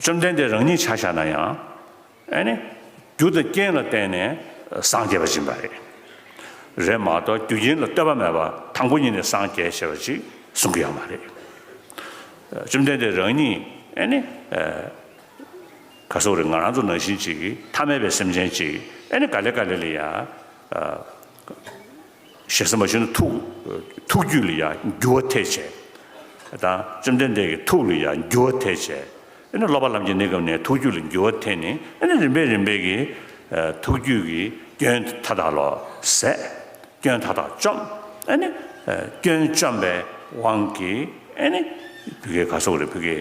བཅོམ་ལྡན་འདས་རང་ཉིད་ཆ་བཞག་ན་ཡང། ཨེ་ནས། རྒྱུ་དང་རྐྱེན་ལ་བརྟེན་ནས་སངས་རྒྱས་པ་སྦྱིན་པ་རེད། རེད་མ་གཏོགས་རྒྱུ་རྐྱེན་ལ་ལྟོས་པ་མེད་པར་དང་པོ་ཉིད་ནས་སངས་རྒྱས་ཞེས་པ་ཅིག་གསུང་གི་ཡོད་མ་རེད། བཅོམ་ལྡན་འདས་རང་ཉིད་ཨེ་ནས། ག་སོགས་རེད་ང་རང་ཚོ་ནང་བཞིན་ཅིག་ཐ་མལ་པའི་སེམས་ཅན་ཅིག་ཨེ་ནས་ག་ལེ་ག་ལེ་ལེ་ཡ། ཞེས་སེམས་མ་ཞུ་ན་ཐུགས། ཐུགས་རྒྱུད་ལ་ཡང་རྒྱུ་བ་ཐེག་བྱེད་དང། བཅོམ་ལྡན་འདས་ཀྱི་ཐུགས་ལ་ཡང་རྒྱུ་བ་ཐེག་བྱེད། དེ་ནས་སློབ་པ་ལམ་གྱི་གནས་སྐབས་ནས་ཐུགས་རྒྱུད་ལ་རྒྱུ་བ་ཐེག་ནས་དེ་ནས་རིམ་པས་རིམ་པས་ཀྱི། ཐུགས་རྒྱུད་ཀྱི་སྐྱོན་མཐའ་དག་ལོག། ཟད། སྐྱོན་མཐའ་དག་བཅོམ། ཨཱ་ནི། སྐྱོན་བཅོམ་པའི་དབང་གིས་ཨཱ་ནི། བུ་གའི་ག་སོགས་རེ་བུ་གའི།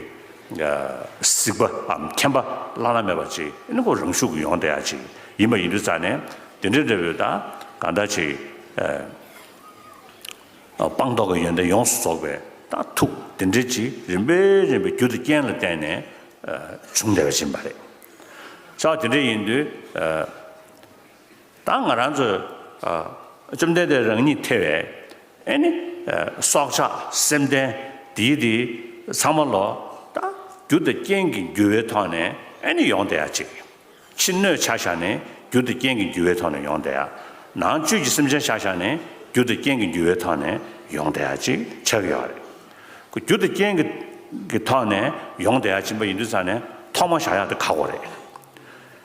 གཟིགས་པའམ་མཁྱེན་པ་བླ་ན་མེད་པ་ཅིག་ཨཱ་ནི་ཁོ་རང་ཤུགས་ཀྱིས་ཡོངས་བརྟན་ཡ་ཅིག་ཡིན་པ་ཡིན་དུ་བཙལ་ནས། དེ་འདྲའི་འབྲས་བུས་དང་གང་འདྲ་ཅིག། སྤངས་རྟོགས་ཀྱི་ཡོན་ཏན་ཡོངས་སུ་རྫོགས་པའི་དང་ཐུགས་དེ་འདྲའི་ཅིག་རིམ་པས་རིམ་པས་རྒྱུ་དང་རྐྱེན་ལ་བརྟེན་ནས་བྱུང་བདེ་བ་འབྱིན་པ་རེད། བྱ་བ་དེ་འདྲ་ཡིན་དུས། ད་ང་རང་ཚོས་བཅོམ་ལྡན་འདས་རང་ཉིད་ཐེ་བའི་ཨེ་ནི་སྲོག་ཆགས་སེམས་ལྡན་དེའི་དེ་ཚང་མ་ལོ། ད་རྒྱུ་དང་རྐྱེན་གྱི་འགྱུར་བའི་ཐོག་ནས་ཨེ་ནི་ཡོངས་བདེ་བ་ཅིག། ཕྱི་སྣོད་བྱ་བཞག་ནི་རྒྱུ་དང་རྐྱེན་གྱི་རྒྱུ་བའི་ཐོག་ནས་ཡོང་སྟེ། ནང་བཅུད་ཀྱི་སེམས་ཅན་བྱ་བཞག་ནི་རྒྱུ་དང་རྐྱེན་གྱི་རྒྱུ་བའི་ཐོག་ནས་ཡོང་སྟེ་ཅེས་འཆད་ཀྱི་ཡོད་རེད། རྒྱུ་དང་རྐྱེན་གྱི་ཐོག་ནས་ཡོང་སྟེ་ཅེས་པ་ཡིན་དུས་ཚང་ནས་ཐོག་མ་བཞག་ཡག་དེ་ཁག་པོ་རེད།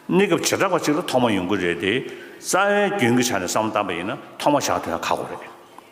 གནས་སྐབས་བྱེ་བྲག་པ་གཅིག་ལ་ཐོག་མ་ཡོང་གི་རེད་དེ། རྩ་བའི་རྒྱུན་གྱི་ཆ་ནས་བསམ་བློ་བཏང་པ་ཡིན་ན་ཐོག་མ་བཞག་དེ་ཡང་ཁག་པོ་རེད།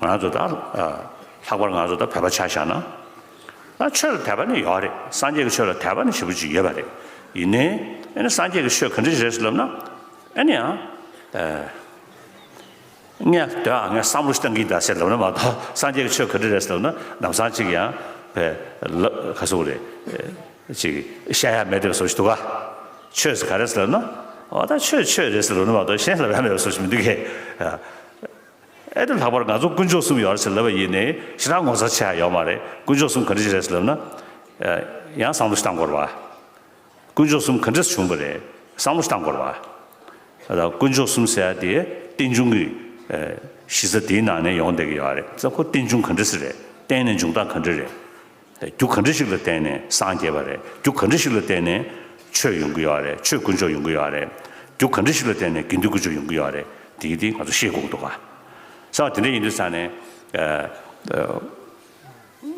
ང་ཚོ་ད་ལྷག་པར་ང་ཚོ་ད་བོད་པ་ཆ་བཞག་ན་ད་ཆོས་ལ་དད་པ་ནི་ཡོད་རེད་སངས་རྒྱས་ཀྱི་ཆོས་ལ་དད་པ་ནི་ཞེ་པོ་ཅིག་ཡོད་པ་རེད་ཡིན་ནའི་ཨེ་ནས་སངས་རྒྱས་ཀྱི་ཆོས་ག་འདྲི་ཞིག་རེད་ཟེར་ལབ་ན་ཨེ་ནས་ཡང་ངས་དོན་ཨ་ངས་བསམ་བློ་ཞིག་གཏང་གིན་གདའ་ཟེར་ལབ་ན་མ་གཏོགས་སངས་རྒྱས་ཀྱི་ཆོས་ག་འདྲི་རེད་ཟེར་ལབ་ན་ནམ་སང་ཅིག་ཡང་བེ་ལབ་ག་སོ་རེད་ཅིག་བཤད་ཡ་མེད་དེ་བ་སོ་ཞིག་འདུག་ག་ཆོས་ཟེར་ག་རེད་ཟེར་ལབ་ན་ཨོ་ད་ཆོས་ཆོས་རེད་ཟེར་ལབ་ན་མ་གཏོགས་གཞན་ལབ་ཡ་མེད་བ་སོ་ཞིག་མི་འདུག་གས། ཨེ་དེ་ལྷག་པར་ང་ཚོ་དཀོན་མཆོག་གསུམ་ཡོད་ཟེར་ལབ་པ་ཡིན་ནི་ཞེ་དྲག་ངོ་ཚ་ཆེ་ཧ་ཡོད་མ་རེད་དཀོན་མཆོག་གསུམ་ག་འདྲི་ཞིག་རེད་ཟེར་ལབ་ན། ཡང་བསམ་བློ་ཞིག་བཏང་དགོས་རེད་བ། དཀོན་མཆོག་གསུམ་ག་འདྲི་ས་བྱུང་པ་རེད་བསམ་བློ་ཞིག་བཏང་དགོས་རེད་བ། ཨ་དང་དཀོན་མཆོག་གསུམ་ཟེར་ཡ་དེ་རྟེན་འབྱུང་གི་གཞི་རྩ་དེའི་ནང་ནས་ཡོང་བསྡད་ཀྱི་ཡོད་རེད་ཙང་ཁོ་རྟེན་འབྱུང་ག་འདྲི་ཟེར་རེད་རྟེན་ནས་འབྱུང་སྟངས་ག་འདྲི་རེད། རྒྱུ་ག་འདྲི་ཞིག་ལ་བརྟེན་ནས་སངས་རྒྱས་པ་རེད། རྒྱུ་ག་འདྲི་ཞིག་ལ་བརྟེན་ནས་ཆོས་ཡོང་གི་ཡོད་རེད། ཆོས་དཀོན་མཆོག་ཡོང་གི་ཡོད་རེད། རྒྱུ་ག་འདྲི་ཞིག་ལ་བརྟེན་ནས་དགེ་འདུན་དཀོན་མཆོག་ཡོང་གི་ཡོད་རེད། དེ་གི་དེ་ང་ཚོ་ཤེས་དགོས་ཀྱི་འདུག་ག། ས་བ་དེ་འདྲ་ཡིན་དུས་ས་ནས།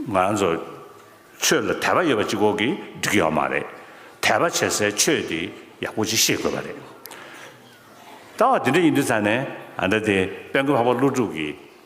ང་རང་ཚོ་ཆོས་ལ་དད་པ་ཡོད་པ་གཅིག་གོ་གི་འགྲིག་གི་ཡོད་མ་རེད། དད་པ་བྱེད་སའི་ཆོས་དེ་ཡག་པོ་གཅིག་ཤེས་དགོས་པ་རེད། ད་བ་དེ་འདྲ་ཡིན་དུས་ས་ནས་ཨ་འདྲ་དེ་དཔལ་མགོན་འཕགས་པ་ཀླུ་སྒྲུབ་ཀྱི་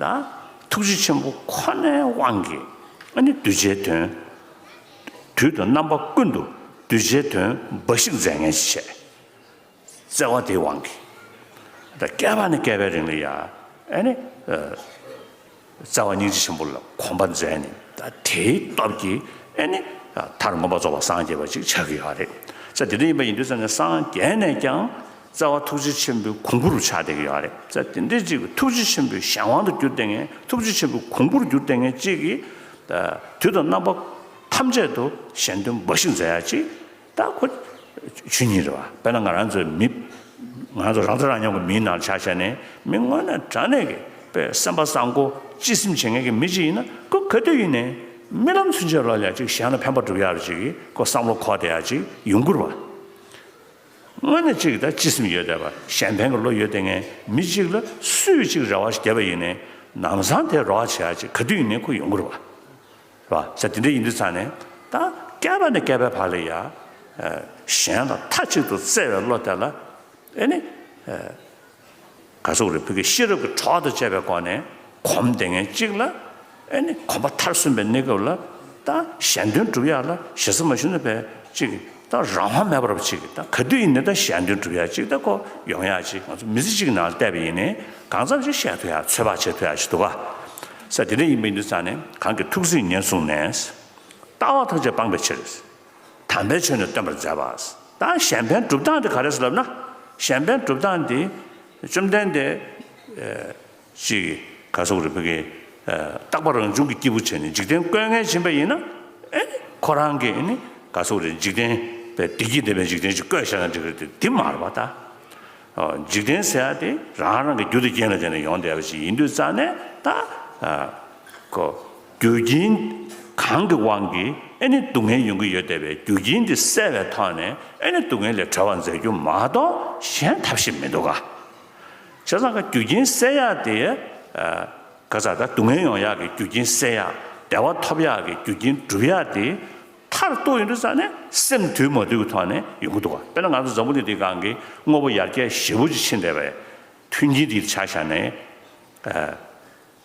དང། ཐུགས་རྗེ་ཆེན་པོ་ཁོ་ནའི་དབང་གིས་ཨ་ནི་གདུལ་བྱའི་དོན། དུས་དང་རྣམ་པ་ཀུན་ཏུ་གདུལ་བྱའི་དོན་འབའ་ཞིག་མཛད་ངན་ཅི་བྱེད། བརྩེ་བ་དེའི་དབང་གིས། དང་བསྐལ་པ་ནས་བསྐལ་པའི་རིང་ལ་ཡང་ཨ་ནི། བརྩེ་བ་སྙིང་རྗེ་ཆེན་པོ་ལ་གོམས་པར་མཛད་ནས། དང་དེའི་སྟོབས་ཀྱིས་ཨ་ནི། མཐར་མངོན་པར་རྫོགས་པར་སངས་རྒྱས་པ་ཅིག་ཆགས་ཀྱི་ཡོད་རེད། ས་དེ་འདྲ་ཡིན་པ་ཡིན་དུས་ཙམ་ནས་སངས་རྒྱས་ནས་ཀྱང། རྩ་བ་ཐུགས་རྗེ་ཆེན་པོའི་གོང་བུ་རུ་ཆགས་བསྡད་ཀྱི་ཡོད་རེད། རྩ་དེ་འདྲའི་གཅིག་གི་ཐུགས་རྗེ་ཆེན་པོའི་གཞན་དབང་དུ་གྱུར་བསྡད་ངེས་ཐུགས་རྗེ་ཆེན་པོའི་གོང་བུ་རུ་གྱུར་བསྡད་ངེས་གཅིག་གིས། དུས་དང་རྣམ་པ་ཐམས་ཅད་དུ་གཞན་དོན་འབའ་ཞིག་མཛད་ཡ་གཅིག་ད་ཁོ་ཆོས་ཉིད་རེད་བ། དཔེར་ན་ང་རང་ཚོའི་མི། ང་རང་ཚོ་རང་ཚོ་རང་སྙོམས་ཀྱི་མིའི་ནང་ཆ་བཤད་ནས་མི་དངོས་ནས་དྲ་གནས་ཀྱི་དཔེ་སེམས་པ་བཟང་པོ་སྤྱི་སེམས་བྱེད་ངེས་ཀྱི་མི་གཅིག་ཡིན་ན་ཁོ་ག་དུས་ཡིན་ནས་རྨི་ལམ་ཚུན་ཆད་ལོག་ཡ་གཅིག་གཞན་ལ་ཕན་པ་བསྒྲུབ་ཡ་རུ་གཅིག་གིས་ཁོ་བསམ་བློ་འཁོར་བསྡད་ཡ་གཅིག་ཡུན་བསྐུར་བ། དངོས་ནས་གཅིག་དང་གཅིག་སེམས་ཡོད་བསྡད་པ་གཞན་ཕན་གྱི་བློ་ཡོད་བསྡད་མཁན་མི་གཅིག་ལ་སུས་གཅིག་རེ་བ་བརྒྱབ་པ་ཡིན་ནས་ནང་བཟང་དེ་རོགས་བྱས་ཡ་ཅེས་ག་དུས་ཡིན་ནས་ཁོ་ཡོང་གི་རེད་བ། རེད་བ། ས་དེ་འདྲ་ཡིན་དུས་ཚང་ནས་ད་བསྐལ་པ་ནས་བསྐལ་པའི་བར་ལ་ཡ། གཞན་ལ་མཐའ་གཅིག་ཏུ་བརྩེ་བའི་བློ་དེ་ལ་ཨེ་ནི། ག་སོག་རི་བོད་ཀྱི་ཤེས་རབ་ཀྱི་གྲོགས་དང་བཅས་པའི་སྒོ་ནས་གོམས་ཏེ་ངེས་གཅིག་ལ། ཨེ་ནི་གོམས་པ་མཐར་སོན་པའི་གནས་སྐབས་ལ། དང་གཞན་དོན་སྒྲུབ་ཡག་ལ་ཞེ་ས་མ་བཞུགས་ན་བས་ཅིག། དང་རང་དབང་མེད་པར་བ་ཅིག། དང་ག་དུས་ཡིན་ནི་དང་གཞན་དོན་སྒྲུབ་ཡག་ཅིག་དང་ཁོ་ཡོང་ཡག་ཅིག་ང་ཚོ་མི་ཚེ་གཅིག་གི་ནང་ལ་བལྟས་པ་ཡིན་ནི་གང་ཙམ་ཞིག་བཤད་ཐུབ་ཡག་ཚོད་དཔག་བྱེད་ཐུབ་ཡག་ཅིག་འདུག་ག། ས་དེ་འདྲ་ཡིན་པའི་འདུག་ཙང་ནི་གང་གི་ཐུགས་གཟིགས་ཉེར་བཟུང་ནས། ལྟ་བ་ཐམས་ཅད་སྤངས་པའི་ཕྱིར། དམ་པའི་ཆོས་ནི་སྟོན་པར་མཛད་པ། ད་གཞན་ཕན་གྲུབ་སྟངས་དེ་ག་རེ་ཞེས་ལབ་ན། གཞན་ཕན་གྲུབ་སྟངས་དེ། བཅོམ་ལྡན་འདས། གཅིག། གར་སོག་རིག་པ་ཀའི། རྟག་པ་རང་བྱུང་གི་སྐྱེས་བུ་ཆེ་ནི་འཇིག་རྟེན་བཀོད་ངལ་བྱིན་པ་ཡིན་ན། ཁོ་རང་གིས་ནི་གར་སོག་རིག་འཇིག་རྟེན་པའི་བདེ་སྐྱིད་ལྡན་པའི་འཇིག་རྟེན་ཞིག་བཀོད་ཤེས་ན་འགྲིག་གི་འདུག་འདི་མར་བ་ལྟ། འཇིག་རྟེན་ཟེར་བ་དེ་རང་རང་གི་རྒྱུ་དང་རྐྱེན་ལ་བརྟེན་ནས་ཡོང་བསྡད་པ་ཞིག་ཡིན་དུས་རྩ་ནས་ད། ཁོ། རྒྱུ་རྐྱེན་གང་གི་དབང་གིས་ཨེ་ནི་སྡུག་བསྔལ་ཡོང་གི་ཡོད་བལྟས་པའི་རྒྱུ་རྐྱེན་དེ་བསལ་བའི་ཐོག་ནས་ཨེ་ནི་སྡུག་བསྔལ་ལས་གྲོལ་བར་མཛད་རྒྱུ་མ་གཏོགས་གཞན་ཐབས་ཤེས་མི་འདུག་ག། བྱས་ཙང་ག་རྒྱུ་རྐྱེན་སེལ་ཡག་དེ། ག་ཚ་ད་སྡུག་བསྔལ་ཡོང་ཡག་གི་རྒྱུ་རྐྱེན་སེལ་ཡག་བདེ་བ་ཐོབ་ཡག་གི་རྒྱུ་རྐྱེན་སྒྲུབ་ཡག་དེ། མཐར་གཏུགས་ཡིན་དུ་ས་ནི་སེམས་དུལ་མ་དུལ་གྱི་ཐོག་ནས་ཡོང་གི་འདུག་ག་དཔེར་ན་ང་ཚོ་འཛམ་བུ་གླིང་འདིའི་སྒང་གི་དངོས་པོ་ཡར་རྒྱས་ཞི་བོ་ཅིག་ཕྱིན་བསྡད་པས། མཐུན་རྐྱེན་དེ་ཆགས་བཞག་ནས།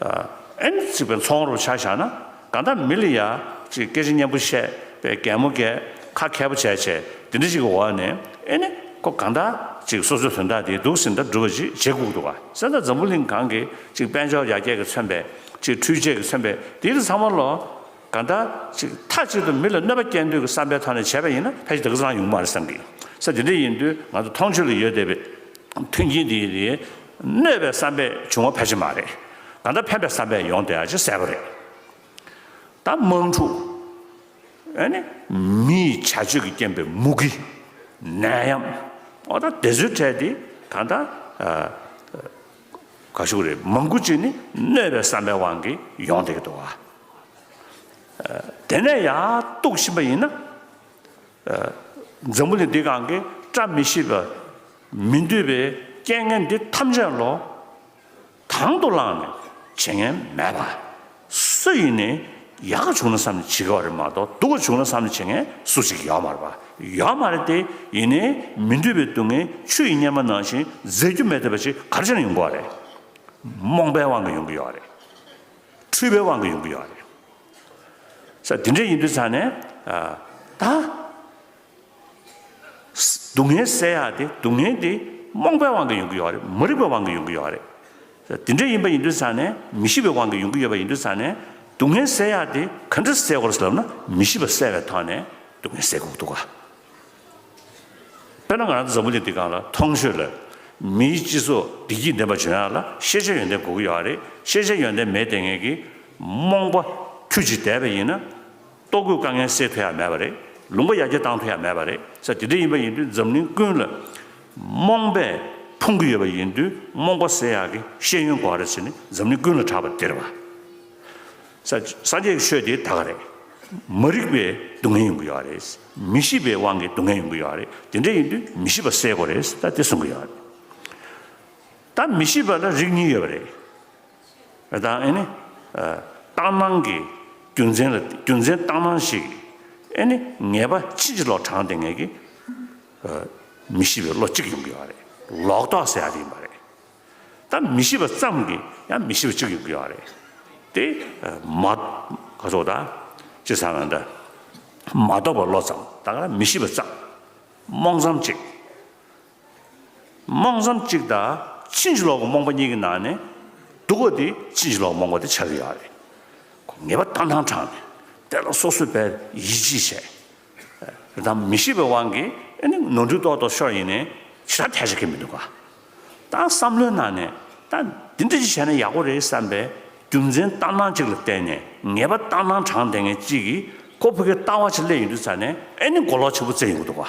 ཨེན་ཅིག་པའི་ཚོང་རོགས་ཆ་བཞག་ན་གང་ལྟར་མི་ལ་ཡ་ཅིག་སྐད་ཆ་སྙན་པོ་བཤད་པའི་གད་མོ་འགས་ཁ་ཁད་པོ་བྱས་བྱས་དེ་འདྲ་ཅིག་གི་འོག་ནས་ཨེ་ནི་ཁོ་གང་འདྲ་ཅིག་སོ་སོའི་དོན་དག་དེ་སྡུག་སྲིད་འདྲ་སྒྲུབ་པ་ཅིག་བྱེད་ཁུག་འདུག་ཨ་སེ་ད་འཛམ་བུ་གླིང་གང་གི་ཅིག་དཔལ་འབྱོར་ཡར་རྒྱས་ཀྱི་མཚོན་པས་ཅིག་འཕྲུལ་ཆས་ཀྱི་མཚོན་པས་དེའི་ཚང་མ་ལོ་གང་ལྟར། ཅིག་མཐའ་གཅིག་ཏུ་མི་ལ་གནོད་པ་སྐྱེལ་འདོད་ཀྱི་བསམ་པའི་ཐོག་ནས་བྱས་པ་ཡིན་ན་ཕལ་ཆེར་དེ་ག་ཚོད་རང་ཡོང་གི་མ་རེད་བསམ་གི། ས་དེ་འདྲ་ཡིན་དུས་ང་ཚོ་མཐོང་ཆོས་ལ་ཡོད་བསྡད་པའི་མཐུན་རྐྱེན་དེ་དེ་གནོད་པའི་བསམ་པས་བྱུང་བ་ཕལ་ཆེར་མ་རེད། གང་ལྟར་ཕན་པའི་བསམ་པས་ཡོང་དེ་ཧ་ཅང་གསལ་པོ་རེད། ད་དམག་འཁྲུག། ཨེ་ནི། མི་ཡི་བྱ་སྤྱོད་ཀྱི་རྐྱེན་པས་མུ་གེ། ནད་ཡམས། འོ་ད་དེ་ཚོའི་གྲས་དེ་གང་ལྟར། ག་ཞུགས་རེད་མང་པོ་ཅིག་ནི་གནོད་པའི་བསམ་པའི་དབང་གིས་ཡོང་འདུག་གདོ་བ། དེ་ནས་ཡག་རྟོག་ཕྱིན་པ་ཡིན་ན། འཛམ་བུ་གླིང་འདི་གང་གིས་བཀྲ་མི་ཤིས་པའི་མི་འདོད་པའི་རྐྱེན་ངན་འདི་ཐམས་ཅད་ལོ། དང་དུ་བླངས་ནས་བྱེད་ངན་མེད་པ། སུ་ཡིན་ནས་ཡག་ག་བྱུང་ན་བསམ་ནས་བྱེད་དགའ་བ་རེད་མ་གཏོགས་སྡུག་ག་བྱུང་ན་བསམ་ནས་བྱེད་མཁན་སུ་ཞིག་ཡོད་མ་རེད་པ། ཡོད་མ་རེད་དེ། ཡིན་ནས་མི་འདོད་པའི་སྡུག་བསྔལ་ཆུ་ཡི་གཉེར་མ་ནང་བཞིན་འཛད་རྒྱུ་མེད་འདོད་པ་ཞིག་ག་རེ་ཅང་ཡོང་གི་བ་རེད། རྨོངས་པའི་དབང་གིས་ཡོང་གི་ཡོད་བ་རེད། འཁྲུལ་པའི་དབང་གིས་ཡོང་གི་ཡོད་བ་རེད། ས་དེ་འདྲས་ཡིན་དུས་ཚང་ནས། ད། སྡུག་བསྔལ་བསལ་ཡག་དེ་སྡུག་བསྔལ་དེ་རྨོངས་པའི་དབང་གིས་ཡོང་གི་ཡོད་རེད་མ་རིག་པའི་དབང་གིས་ཡོང་གི་ཡོད་རེད། དེ་འདྲ་ཡིན་པ་ཡིན་དུས་ཚང་ནས་མི་ཤེས་པའི་དབང་གིས་ཡོང་གི་ཡོད་པ་ཡིན་དུས་ཚང་ནས་སྡུག་བསྔལ་བསལ་ཡག་དེ་ག་འདྲ་བསལ་དགོས་ལབ་ན་མི་ཤེས་པ་བསལ་བའི་ཐོག་ནས་སྡུག་བསྔལ་བསལ་དགོས་འདུག་ག། དཔེར་ན་ང་རང་འཛམ་བུ་གླིང་འདི་གང་ལ་ཐོང་ཤོད་ལབ། མིའི་སྤྱི་ཚོགས་བདེ་སྐྱིད་ལྡན་པ་བྱུང་ཡག་ལ་ཤེས་བྱའི་ཡོན་ཏན་དགོས་ཀྱི་ཡོད་རེད་ཤེས་བྱའི་ཡོན་ཏན་མེད་དེ་ངེད་ཀྱི་རྨོངས་པ་ཁྱུ་གཅིག་དལ་བས་ཡིན་ན། ལྟོ་གོས་དཀའ་ངལ་སེལ་ཐུབ་ཡ་མེད་པ་རེད། ལུང་པ་ཡར་རྒྱས་བཏང་ཐུབ་ཡ་མེད་པ་རེད། ས་དེ་འདྲ་ཡིན་པ་ཡིན་དུས་འཛམ་གླིང་ཀུན་ལ་རྨོངས་པས་ཕུང་གི་ཡོད་པ་ཡིན་དུས་རྨོངས་པ་སེལ་ཡག་གི་ཤེས་ཡོན་གོ་རེ་ཟེར་ནི་འཛམ་གླིང་ཀུན་ལ་གྲགས་པ་དེ་རེད་བ། ས་སངས་རྒྱས་ཀྱི་ཆོས་དེ་དག་རེད། མ་རིག་པའི་སྡུག་བསྔལ་ཡོང་གི་ཡོད་རེད། མི་ཤེས་པའི་དབང་གིས་སྡུག་བསྔལ་ཡོང་གི་ཡོད་རེད། དེ་འདྲ་ཡིན་དུས་མི་ཤེས་པ་སེལ་དགོས་རེད་ད་དེ་གསུང་གི་ཡོད་རེད། ད་མི་ཤེས་པ་ལ་རིགས་གཉིས་ཡོད་པ་རེད། དང་ཨེ་ནི། རྟགས་སྣང་གི་རྒྱུ་མཚན་ལ་རྒྱུ་མཚན་རྟགས་སྣང་ཞིག་ཨེ་ནི་ངེས་པ་ཕྱིན་ཅི་ལོག་དྲང་བདེན་ངེས་ཀྱི་མི་ཤེས་པའི་བློ་གཅིག་ཡོང་གི་ཡོད་རེད། ལོག་རྟོག་ཟེར་ཡག་ཡིན་པ་རེད། ད་མི་ཤེས་པ་ཙམ་གྱི་ཡང་མི་ཤེས་པ་གཅིག་ཡོང་གི་ཡོད་རེད། དེ་མ་ག་ཚོགས་ད་ཅི་ཟ་ན་འདྲ། མ་རྟོགས་པ་བློ་ཙམ་ད་ག་ར་མི་ཤེས་པ་ཙམ་རྨོངས་ཙམ་ཅིག། རྨོངས་སམ་གཅིག་དང་ཕྱིན་ཅི་ལོག་གི་རྨོངས་པ་གཉིས་ཀྱི་ནང་ནས་སྡུག་པ་དེ་ཕྱིན་ཅི་ལོག་གི་རྨོངས་པ་དེ་ཆགས་ཀྱི་ཡོད་རེད། ངེས་པ་ལྟ་སྣང་དྲངས་ནས་དེ་ལ་སོ་སོས་པས་ཡིད་ཆེས་བྱས། རེད་དམ་མི་ཤེས་པའི་དབང་གིས་ཨེ་ནི་ནོར་འཁྲུལ་རྟོག་རྟོག་ཤོར་ཡིན་ནས་ཇི་ལྟར་ཐལ་ཆ་གི་མི་འདུག་ག། ད་བསམ་བློའི་ནང་ནས་ད་འདི་འདྲ་ཅིག་བྱས་ན་ཡག་པོ་རེད་བསམ་པའི་རྒྱུ་མཚན་ལྟ་སྣང་གཅིག་ལ་བརྟེན་ནས་ངེས་པ་ལྟ་སྣང་དྲངས་དེ་ངས་གཅིག་གིས་ཁོ་བོད་སྐད་ལྟ་བ་ཆེད་སླེབས་ཡིན་དུས་ཚར་ནས་ཨེ་ནི་མགོ་ལོག་ཆེན་པོ་བཙལ་ཡོང་གི་འདུག་ག།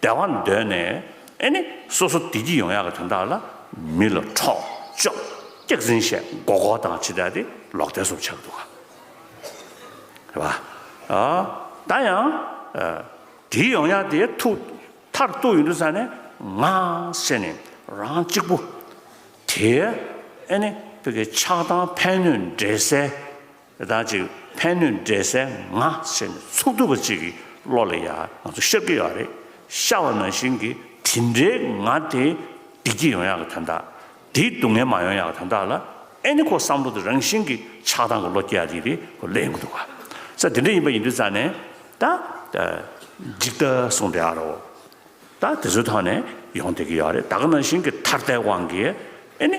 བདེ་བ་འདོད་ནས་ཨེ་ནི་སོ་སོ་བདེ་སྐྱིད་ཡོང་ཡག་གི་དོན་དག་ལ་མི་ལ་འཕྲོག་བཅོམ་སྐྱག་རྫིན་བཤད་མགོ་སྐོར་དང་ཕྱི་དགྲ་དེ་ལོག་ལྟས་སོགས་ཆགས་འདུག་ག་རེད་བ། ཨ། ད་ཡང་དེའི་ཡོང་ཡག་དེ་ཐུགས་མཐར་གཏུགས་ཡོད་འདུག་ས་ནས་ང་བཤད་ནི་རང་གཅིག་པུ་དེ་ཨེ་ནི་བོད་ཀྱི་ཆགས་སྡང་ཕན་གནོད་འདྲེ་སའི་དང་ཅིག་ཕན་ནུས་འབྲས་གསལ་ང་བྱས་ནས་ཚོགས་འདུ་བ་ཅིག་གི་བློ་ལ་ཡང་ང་ཚོ་ཤར་གྱི་ཡོད་རེད་ཤར་བ་ནང་བཞིན་གྱི་དེ་འདྲའི་ང་དེ་བདེ་སྐྱིད་ཡོང་ཡག་གི་དོན་དག་དེ་སྡུག་བསྔལ་མ་ཡོང་ཡག་གི་དོན་དག་ལ་ཨེ་ནི་ཁོ་བསམ་བློ་དེ་རང་བཞིན་གྱི་ཆགས་སྡང་གི་བློ་སྐྱེ་ཡག་གི་རེད་ཁོ་ལས་ཡོང་གི་འདུག་ག་ས་དེ་འདྲ་ཡིན་པ་ཡིན་དུས་ཙང་ནས་ད་ད་འཇིག་ལྟ་གསུངས་འདྲ་རོ་ད་དེ་ཚོའི་ཐོག་ནས་ཡོང་བསྡད་ཀྱི་ཡོད་རེད་ད་ག་ནང་བཞིན་གྱི་ཐར་ལྟའི་དབང་གིས་ཨེ་ནི།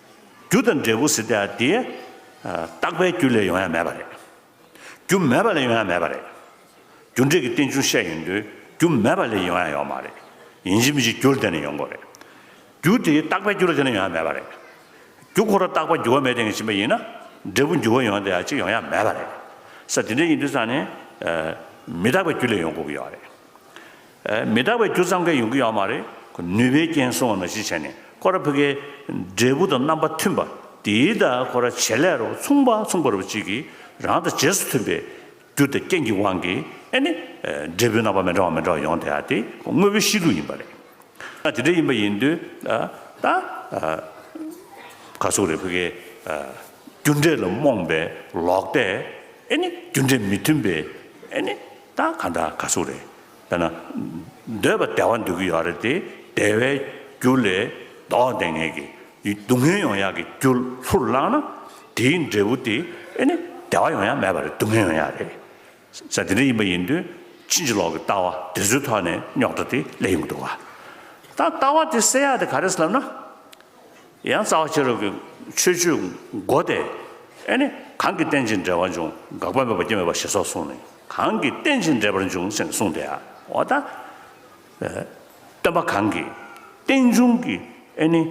རྒྱུ་དང་འབྲས་བུ་ཟེར་ཏེ་ཡང་དེ། རྟག་པའི་རྒྱུ་ལས་ཡོང་ཡ་མེད་པ་རེད། རྒྱུ་མེད་པ་ལས་ཡོང་ཡ་མེད་པ་རེད། རྒྱུ་འབྲས་ཀྱི་རྟེན་འབྱུང་བཤད་ཡོང་དུས་རྒྱུ་མེད་པ་ལས་ཡོང་ཡ་ཡོད་མ་རེད། ཡིན་གཅིག་མིན་གཅིག་རྒྱུར་བརྟེན་ནས་ཡོང་དགོས་རེད། རྒྱུ་དེ་རྟག་པའི་རྒྱུ་ལ་བརྟེན་ནས་ཡོང་ཡ་མེད་པ་རེད། རྒྱུ་ཁོ་ར་རྟག་པ་འགྱུར་བ་མེད་སྟེང་གི་ཕྱིན་པ་ཡིན་ན། འབྲས་བུ་འགྱུར་བ་ཡོང་སྟེ་ཡང་གཅིག་ཡོང་ཡ་མེད་པ་རེད། ས་དེ་འདྲ་ཡིན་དུས་སང་ནི། མི་རྟག་པའི་རྒྱུ་ལས་ཡོང་དགོས་ཀྱི་ཡོད་རེད། མི་རྟག་པའི་རྒྱུ་ཙམ་གས་ཡོང་གི་ཡོད་མ་རེད། ནུས་པའི་རྐྱེན་སོང་ན་ཞེས་བྱས་ནས་ཁོ་ར་ཕི་ཀའི་འབྲས་བུ་དང་རྣམ་པ་མཐུན་པ་དེའི་ད་ཁོ་ར་བྱེད་ལས་རོ་མཚུངས་པ་མཚུངས་པ་རུ་གཅིག་གིས་རང་དང་རྗེས་སུ་མཐུན་པའི་རྒྱུ་དང་རྐྱེན་གྱི་དབང་གིས་ཨེ་ནི། འབྲས་བུའི་རྣམ་པ་མི་འདྲ་བ་མི་འདྲ་བ་ཡོང་དེ་ཨ་དེ་དངོས་པོའི་གཤིས་ལུགས་ཡིན་པ་རེད། དེ་འདྲ་ཡིན་པ་ཡིན་དུས་ད་ག་སུ་ར་ཕི་ཀའི་རྒྱུ་འབྲས་ལ་རྨོངས་པའི་ལོག་ལྟས་ཨེ་ནི་རྒྱུ་འབྲས་མི་མཐུན་པའི་ཨེ་ནི་ད་ག་འདྲ་ག་སུ་རེད། དཔེར་ན། འདོད་པ་བདེ་བ་འདོད་ཀྱི་ཡོད་རེད་དེ། བདེ་བའི་རྒྱུ་ལས་བདག་བདེ་ངེས་ཀྱི། སྡུག་བསྔལ་ཡོང་ཡག་གི་རྒྱུ་ལྷུར་བླངས་ན། དེའི་འབྲས་བུ་དེ་ཨེ་ནི་བདེ་བ་ཡོང་ཡག་མེད་པ་རེད་སྡུག་བསྔལ་ཡོང་ཡག་རེད། ས་དེ་འདྲ་ཡིན་པ་ཡིན་དུས་ཕྱིན་ཅི་ལོག་གི་ལྟ་བ་དེ་ཚོའི་ཐོག་ནས་རྙོག་དྲ་དེ་སླེབས་ཡོང་གི་འདུག་བ། ད་ལྟ་བ་དེ་སེལ་ཡག་དེ་ག་རེད་ལབ་ན། ཡང་རྩ་བ་ཕྱི་རོལ་གྱི་ཆོས་བཅུའི་སྒོ་སྟེ། ཨེ་ནི། གང་གི་རྟེན་ཅིང་འབྲེལ་བར་འབྱུང་དགག་པ་མེད་པར་སྐྱེ་མེད་པ་ཞེས་སོགས་གསུངས་ནས། གང་གི་རྟེན་ཅིང་འབྲེལ་པར་འབྱུང་ཞེས་གསུངས་ཏེ། འོ་ན། སྟོན་པ་གང་གིས་རྟེན་འབྱུང་གི་ཨེ་ནི།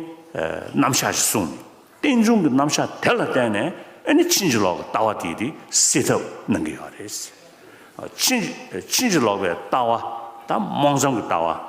རྣམ་གཞག་ཅེས་གསུངས་ནས། རྟེན་འབྱུང་གི་རྣམ་གཞག་དེ་ལ་བརྟེན་ནས་ཨེ་ནི་ཕྱིན་ཅི་ལོག་གི་ལྟ་བ་དེ་དེ་སེལ་ཐབས་གནང་གི་ཡོད་རེད། ཕྱིན་ཅི་ལོག་པའི་ལྟ་བ་དང་རྨོངས་འཆམ་གྱི་ལྟ་བ།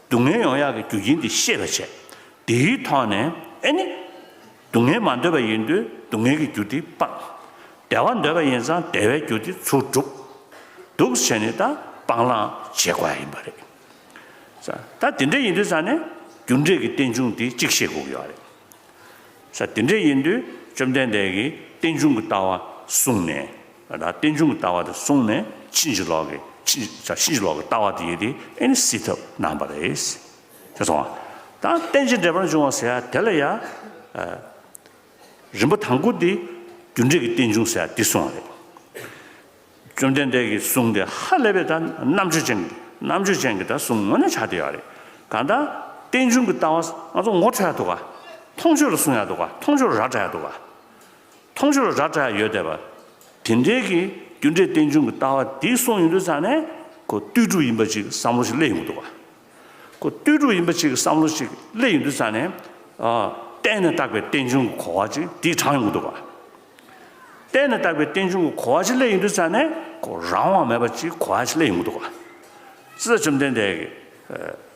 སྡུག་བསྔལ་ཡོང་ཡག་གི་རྒྱུ་རྐྱེན་དེ་ཤེས་པར་བྱས། དེའི་ཐོག་ནས་ཨེ་ནི། སྡུག་བསྔལ་མ་འདོད་པ་ཡིན་དུས་སྡུག་བསྔལ་གྱི་རྒྱུ་དེ་སྤངས། བདེ་བ་འདོད་པ་ཡིན་ཙང་བདེ་བའི་རྒྱུ་དེ་ཚུར་བསྒྲུབས། སྡུག་བྱས་ནས་ད་སྤང་བླང་བྱེད་དགོས་ཡིན་པ་རེད། ས་ད་དེ་འདྲ་ཡིན་དུས་ས་ནས་རྒྱུ་འབྲས་ཀྱི་རྟེན་འབྱུང་དེ་གཅིག་ཤེས་དགོས་ཀྱི་ཡོད་རེད། ས་དེ་འདྲ་ཡིན་དུས་བཅོམ་ལྡན་འདས་ཀྱིས་རྟེན་འབྱུང་གི་ལྟ་བ་གསུངས་ནས། ད་རྟེན་འབྱུང་གི་ལྟ་བ་དེ་བཟུང་ནས་ཕྱིན་ཅི་ལོག་གི་ཕྱིན་ཅི་ལོག་གི་ལྟ་བ་དེ་ཡོད་དེ་ཨེ་ནི་སྲིད་ཐབས་སྣང་བ་རེད། ཤེས་སོང་ངམ། ད་རྟེན་ཅིང་འབྲེལ་པར་འབྱུང་བ་ཟེར་ཡ་དེ་ལ་ཡ། རིམ་པ་དང་པོ་དེ་རྒྱུ་འབྲས་ཀྱི་རྟེན་འབྱུང་ཟེར་ཡ་དེ་གསུངས་བ་རེད། བཅོམ་ལྡན་འདས་ཀྱིས་གསུངས་དེ་ཧ་ལས་པའི་ད་རྣམ་དཔྱོད་ཅན་རྣམ་དཔྱོད་ཅན་གྱིས་ད་གསུངས་ངོ་ནས་ཆགས་བསྡད་ཡོད་རེད། གང་ལྟར་རྟེན་འབྱུང་གི་ལྟ་བ་ང་ཚོ་ངོ་འཕྲོད་ཡ་འདུག་ག། མཐོང་ཆོས་ལ་གསུངས་ཡ་འདུག་ག་མཐོང་ཆོས་ར་བསྒྲགས་ཡ་འདུག་ག། མཐོང་ཆོས་ར་བཀྲ་ཡོད་བསྡད་པ། དེ་འབྲེལ་གྱི་རྒྱུ་འབྲས་རྟེན་འབྱུང་གི་ལྟ་བ་འདི་གསུངས་ཡོད་དུས་ཚང་ནས་ཁོ་ཏུས་དྲུག་ཡིན་པ་ཅིག་བསམ་བློ་ཞིག་སླེ་ཡོང་གི་འདུག་བ། ཁོ་ཏུས་དྲུག་ཡིན་པ་ཅིག་བསམ་བློ་ཞིག་སླེ་ཡོང་དུས་ཚང་ནས། གཏན་ནས་བརྟགས་པའི་རྟེན་འབྱུང་གི་གོ་བ་ཅིག་དེ་དྲངས་ཡོང་གི་འདུག་བ། གཏན་ནས་བརྟགས་པའི་རྟེན་འབྱུང་གི་གོ་བ་ཞིག་སླེ་ཡོང་དུས་ཚང་ནས་ཁོ་རང་དབང་མེད་པ་ཅིག་གོ་བ་ཞིག་སླེ་ཡོང་གི་འདུག་བ། ཙི་ཙཱ་བཅོམ་ལྡན་འདས་ཀྱིས།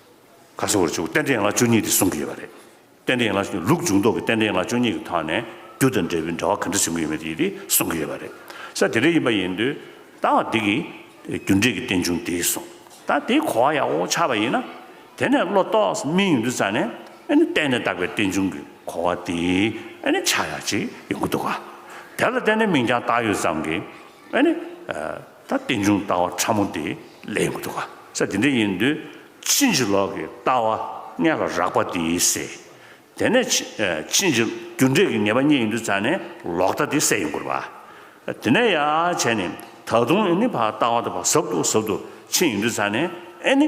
ཁ་གསོ་བར་བཅུག་རྟེན་འབྲེལ་ཡན་ལག་བཅུ་གཉིས་དེ་སྲུང་གི་ཡོད་པ་རེད། རྟེན་འབྲེལ་ཡན་ལག་བཅུ་གཉིས་ལུགས་འབྱུང་ལྡོག་གི་རྟེན་འབྲེལ་ཡན་ལག་བཅུ་གཉིས་ཀྱི་ཐོག་ནས་རྒྱུ་དང་འབྲས་བུའི་འདྲ་བ་ག་འདྲ་བྱུང་གི་ཡོད་མེད་དེ་ཡིད་དེ་སྲུང་གི་ཡོད་པ་རེད། ས་དེ་རེ་ཡིན་པ་ཡིན་དུས་ད་བར་དེ་གི་རྒྱུ་འབྲས་ཀྱི་རྟེན་འབྱུང་དེ་སྲུང། ད་དེའི་གོ་བ་ཡག་པོ་ཆགས་པ་ཡིན་ན། དེ་ནས་བློ་རྟོག་སྨིན་ཡོང་དུས་ཙང་ནས་ཨེ་ནི་གཏན་ནས་བཏགས་པའི་རྟེན་འབྱུང་གི་གོ་བ་དེ་ཨེ་ནི་ཆགས་ཡག་ཅིག་ཡོང་གི་འདུག་ག། དེ་ལ་བརྟེན་ནས་མིང་རྐྱང་བཏགས་ཡོད་ཙམ་གྱིས་ཨེ་ནི། ད་རྟེན་འབྱུང་ལྟ་བ་ཕྲ་མོ་དེ་ལས་མི་འདུག་ག་ས་དེ་འདྲ་ཡིན་དུས་ཕྱིན་ཅི་ལོག་གི་ལྟ་བ་ལྔས་ལ་རགས་པ་དེ་ཡིན་སྲིད། དེ་ནས་ཕྱིན་ཅི་རྒྱུ་འབྲས་ཀྱི་ངེས་པ་གཉིས་ཡིན་དུས་ཙཱ་ནས་ལོག་ལྟ་དེ་སད་ཡིན་དགོས་པ། དེ་ནས་ཡ་བྱས་ནས་ད་དུང་ཨེ་ནི་བར་ལྟ་བ་དེ་བར་ཟབ་ཏུ་ཟབ་ཏུ་ཕྱིན་ཡིན་དུས་ཙཱ་ནས་ཨེ་ནི།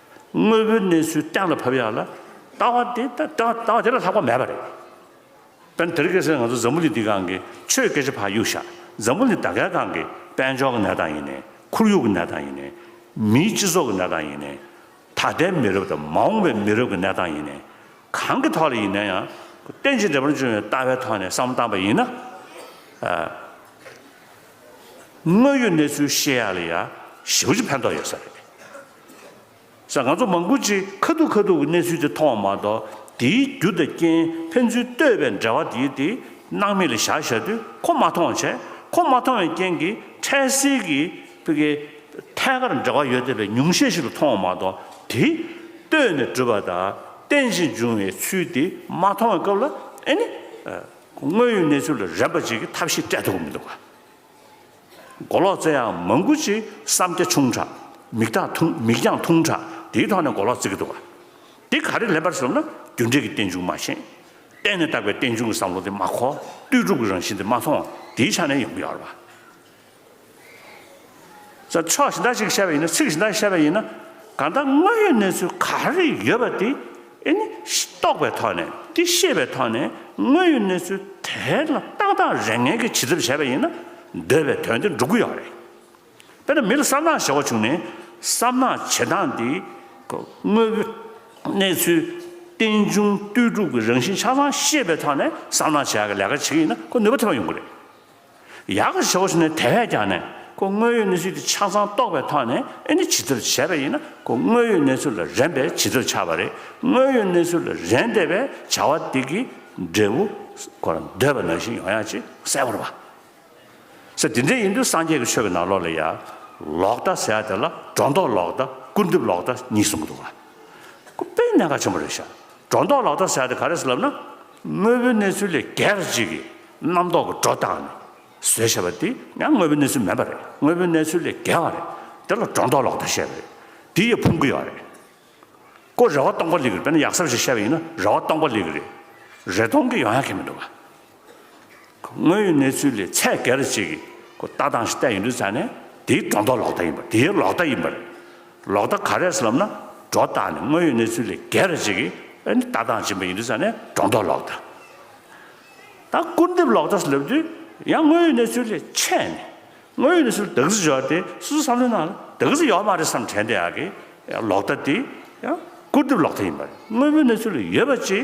དངོས་པོའི་གནས་ཚུལ་གཏན་ལ་ཕབ་ཡག་ལ། ལྟ་བ་དེ་ལྟ་ལྟ་བ་དེ་ལ་ལྷག་པ་མེད་པ་རེད། དོན་དེར་སྐད་ཆ་ང་ཚོ་འཛམ་བུ་གླིང་འདི་སྒང་གི་ཆོས་སྐད་ཆ་ཕ་གཡུག་བཞག་འཛམ་བུ་གླིང་ད་གའི་སྒང་གི་དཔལ་འབྱོར་གྱི་གནས་སྟངས་ཡིན་ནས་ཁོར་ཡུག་གི་གནས་སྟངས་ཡིན་ནས། མིའི་སྤྱི་ཚོགས་ཀྱི་གནས་སྟངས་ཡིན་ནས། ད་ལྟའི་མི་རབས་དང་མ་འོངས་པའི་མི་རབས་ཀྱི་གནས་སྟངས་ཡིན་ནས། གང་གི་ཐོག་ལ་ཡིན་ན་ཡང་རྟེན་ཅིང་འབྲེལ་པར་འབྱུང་བའི་ལྟ་བའི་ཐོག་ནས་བསམ་བློ་བཏང་པ་ཡིན་ན། དངོས་ཡོད་གནས་ཚུལ་ཤེས་ཡག་ལ་ཡང་ཞེ་བོ་ཅིག་ཕན་ཐོགས་ཡོད་ས་རེད། ཟེར། ང་ཚོ་མང་པོ་ཅིག་ཁ་ཐུག་ཁ་ཐུག་གི་གནས་ཚུལ་དེ་མཐོང་བ་མ་གཏོགས་དེའི་རྒྱུ་དང་རྐྱེན་ཕན་ཚུན་ལྟོས་པའི་འབྲེལ་བ་དེའི་དེ་སྣང་མེད་ལས་བཞག་བཞག་དུས་ཁོ་མ་མཐོང་བ་བྱས། ཁོ་མ་མཐོང་བའི་རྐྱེན་གྱིས་འཕྲལ་སེལ་གྱི་ཕི་གེ། ཐད་ཀར་འབྲེལ་བ་ཡོད་བསྡད་པའི་ཉུང་ཤས་ཤིག་ལ་མཐོང་བ་མ་གཏོགས་དེ། ལྟོས་ནས་བསྒྲུབས་པ་དང་རྟེན་ཅིང་འབྱུང་བའི་ཚུལ་དེ་མ་མཐོང་བའི་སྐབས་ལ་ཨེ་ནི། དངོས་ཡོད་གནས་ཚུལ་ལ་རན་པ་ཅིག་གི་ཐབས་ཤེས་སྤྲད་ཐུབ་ཀྱི་མི་འདུག་ག། མགོ་ལོག་བཙལ་ཡང་མང་པོ་ཅིག་བསམ་རྒྱ་ཆུང་དྲགས། མིག་དག་ཐུང་མིག་རྒྱང་ཐུང་དྲགས་དེའི་ཐོག་ནས་མགོ་ལོག་བཙལ་གི་འདུག་ག། དེ་ག་རེ་ལེན་པར་ཟེར་ན་རྒྱུ་འབྲས་ཀྱི་རྟེན་འབྱུང་མ་ཤེས། གཏན་ནས་བཏགས་པའི་རྟེན་འབྱུང་གི་བསམ་བློ་དེ་མ་གོ། ལྟོས་གྲུབ་ཀྱི་རང་བཞིན་དེ་མ་མཐོང། དེའི་ཆ་ནས་ཡོང་གི་ཡོད་རེད་པ། ས་ཕྱོགས་གཞི་བདག་ཅིག་གིས་བཤད་པ་ཡིན་ན་ཚིག་གཞི་བདག་གིས་བཤད་པ་ཡིན་ན། གང་ལྟར་དངོས་ཡོད་གནས་ཚུལ་ག་རེ་ཡོད་པ་དེ་འདི་ནི་རྟོགས་པའི་ཐོག་ནས་ཀྱི་ཤེས་པའི་ཐོག་ནས་དངོས་ཡོད་གནས་ཚུལ་དེ་ལ་ཏག་ཏག་རེ་ངན་གྱི་བྱིས་ཚབ་བྱས་པ་ཡིན་ན་འདོད་པའི་དོན་དེ་འགྲུབ་ཀྱི་ཡོད་རེད། དཔེར་ན་མི་ལ་བསམ་ནག་བྱེད་འོག་བྱུང་ནས་བསམ་ནག་བྱེད་སྟངས་འདི་དངོས་ཡོད་གནས་ཚུལ་རྟེན་འབྱུང་ལྟོས་གྲུབ་ཀྱི་རང་བཞིན་ཆ་ཚང་ཤེས་པའི་ཐོག་ནས་བསམ་ནག་བྱེད་ཡག་གི་ལས་ཀ་བྱེད་ཀྱི་ཡིན་ན་ཁོ་ནུས་པ་ཐོན་པ་ཡོང་གི་རེད། ཡག་གི་ཞོགས་ཟེར་ནས་དེ་བས་ཀྱང་ནས་ཁོ་དངོས་ཡོད་གནས་ཚུལ་དེ་ཆ་ཚང་རྟོགས་པའི་ཐོག་ནས་ཨེ་ནི་བྱི་དོར་བྱས་པ་ཡིན་ན་ཁོ་དངོས་ཡོད་གནས་ཚུལ་ལ་རན་པས་བྱི་དོར་ཆགས་པ་རེད་དངོས་ཡོད་གནས་ཚུལ་ལ་རན་བསྡད་པའི་བྱ་བ་དེ་གི་འབྲས་བུ་ཁོ་རང་འདོད་པ་ནང་བཞིན་ཡོང་ཡག་ཅེས་གསལ་བོར་བ་ཟེར་དེ་འདྲས་ཡིན་དུས་སངས་རྒྱས་ཀྱི་ཆོས་ཀྱི་ནང་ལོགས་ལ་ཡག་ལོག་ལྟ་ཟེར་ཡག་དེ་ལ་སྒྲོ་འདོགས་ལོག་ལྟ་སྐུར་འདེབས་ལོག་ལྟ་གཉིས་གསུངས་གི་འདུག་ལ། ཁོ་དཔེ་གནད་འགག་ཆེན་པོ་རེད་ཤག་སྒྲོ་འདོགས་ལོག་ལྟ་ཟེར་ཡག་དེ་ག་རེད་ལབ་ན། དངོས་པོའི་གནས་ཚུལ་ལས་སྒེར་གཅིག་གི་རྣམ་རྟོག་གི་སྒྲོ་བཏགས་ནས་བཟོས་ཞེས་པ་འདི་ཡང་དངོས་པོའི་གནས་ཚུལ་མེད་པ་རེད། དངོས་པོའི་གནས་ཚུལ་ལས་བརྒལ་བ་རེད། དེ་ལ་སྒྲོ་འདོགས་ལོག་ལྟ་བཤད་པ་རེད། འདི་ཡི་ཕུང་གི་ཡོག་རེད། ཀོ་རེ་བ་སྟོང་པ་ལེགས་རེད་དཔེར་ན་ཡག་ས་བ་ཞིག་བཤད་པ་ཡིན་ན་རེ་བ་སྟོང་པ་ལེགས་རེད། རེ་སྟོང་གི་ཡོང་ཡག་གི་མི་འདུག་ག། དངོས་ཡོད་གནས་ཚུལ་ལས་ཚད་བརྒལ་རེ་བྱེད་ཀྱི་ལྟ་སྟངས་ཤིག་བསྟན་ཡོད་འདུག་ཚ་ནས་དེའི་སྒྲོ་འདོགས་ལོག་ལྟ་ཡིན་པ་དེའི་ལོག་ལྟ་ཡིན་པ་རེད། ལོག་ལྟ་ག་རེད་ལབ་ན་སྒྲོ་བཏགས་ནས་དངོས་ཡོད་གནས་ཚུལ་ལས་བརྒལ་རེ་བྱེད་ཀྱི་ལྟ་སྟངས་སྦྱིན་པ་ཡིན་འདུག་ཚ་ནས་སྒྲོ་འདོགས་ལོག་ལྟ། ད་སྐུར་འདེབས་ལོག་ལྟ་སོགས་ལབ་དུས་ཡང་དངོས་ཡོད་གནས་ཚུལ་ལས་ཆད་ནས་དངོས་ཡོད་གནས་ཚུལ་བདག་གཟིགས་བྱོས་པ་དེ་སོ་སོས་བསམ་བློའི་ནང་ལ་བདག་གཟིགས་ཡོད་མ་རེད་བསམ་དྲན་བསྡད་ཡག་གི་ལོག་ལྟ་དེ་ཡང་སྐུར་འདེབས་ལོག་ལྟ་ཡིན་པ་རེད་དངོས་པོའི་གནས་ཚུལ་ལ་ཡོད་པ་ཅིག་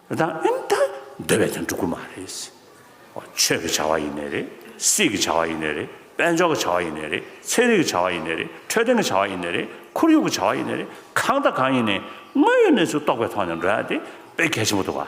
དེ་དག་ཨིན་ད་འདོད་པའི་དོན་སྒྲུབ་ཀྱི་མ་རེད། ཆོས་ཀྱི་བྱ་བ་ཡིན་ནི་རེད། སྲིད་ཀྱི་བྱ་བ་ཡིན་ནི་རེད། དཔལ་འབྱོར་གྱི་བྱ་བ་ཡིན་ནི་རེད། ཚན་རིག་གི་བྱ་བ་ཡིན་ནི་རེད། འཕྲོད་བསྟེན་གྱི་བྱ་བ་ཡིན་ནི་རེད། ཁོར་ཡུག་གི་བྱ་བ་ཡིན་ནི་རེད། གང་དང་གང་ཡིན་ནི་དངོས་ཡོད་གནས་ཚུལ་རྟོགས་པའི་ཐོག་ནས་འགྲོ་ཡག་དེ་དཔེ་གལ་ཆེན་པོ་འདུག་ག།